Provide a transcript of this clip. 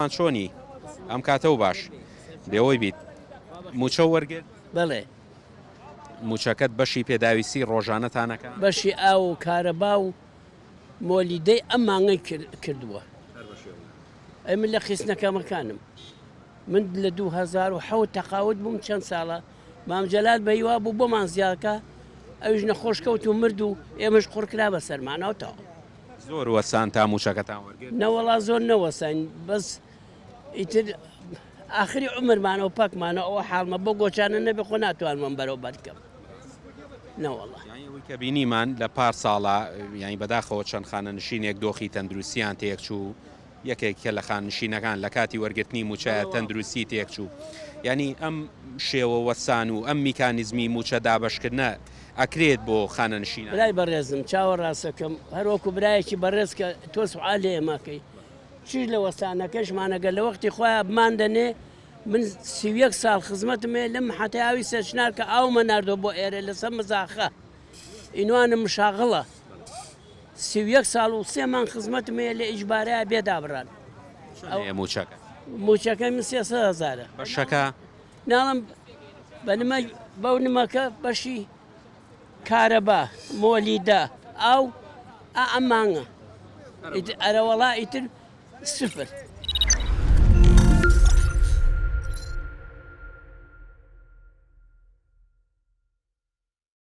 ڕۆژان چۆنی ئەم کاتە و باش بێوەی بیت موچە وەرگرت؟ بەڵێ. موچەکەت بەشی پێداویستی ڕۆژانەتان ئەکا؟ بەشی ئاو و کارەبا و مۆلیدەی ئەم مانگەی کردووە. ئەی من لە خیسنە کەمەکانم. من لە دوو هەزار و حەوت تەقاوت بووم چەند ساڵە مام جەلال بە هیوا بوو بۆمان زیادکا ئەویش نەخۆش کەوت و مرد و ئێمەش قڕکرا بە سەرمانەوە تەواو. زۆر وەستان تا مووشەکەتان وەرگرت؟ نەوەڵا زۆر نەوەستاین بەس ئیتر ئاخری عمرمانەوە پەکمانەوە ئەوە حاڵمە بۆ گۆچانە نەبێ خۆ ناتوانمەم بەرەو بەرکەم نەوەڵا کە بینیمان لە پار ساڵە یانی بەداخەوە چەند خانەنشینێک دۆخی تەندروستیان تێکچوو یەکێک لە خاننشینەکان لە کاتی وەرگرتنی مووچەیە تەندروستی تێکچوو. یانی ئەم شێوە وەستان و ئەم میکانیزمی مووچە دابەشکردنە ئەکرێت بۆ خانەنشینان. برای بەڕێزم چاوە ڕاستەکەم هەر وەکو برایەکی بەڕێز کە تۆ سوعا لێ ئێمە کەی چیش لە وەستانەکەشمانەگە لە وەختی خۆیان بمان دەنێ من سیویەک ساڵ خزمەتمێ لەم حەتە ئاوی سەرچنار کە ئاومە نردۆ بۆ ئێرە لەسەر مزاخە ئینوانە مشاغڵە سی و یەک ساڵ و سێ مانگ خزمەتم هەیە لە ئیجبارەیا بێ دابڕان. چەندەیە مووچەکەت؟ مووچەکەی من سێ سەد هەزارە. بەشەکە؟ ناڵم بە نمە بەو نمەکە بەشی کارەبا، مۆلیدە، ئاو ئا ئەم مانگە. ئیتر ئەرەوەڵا ئیتر سفر.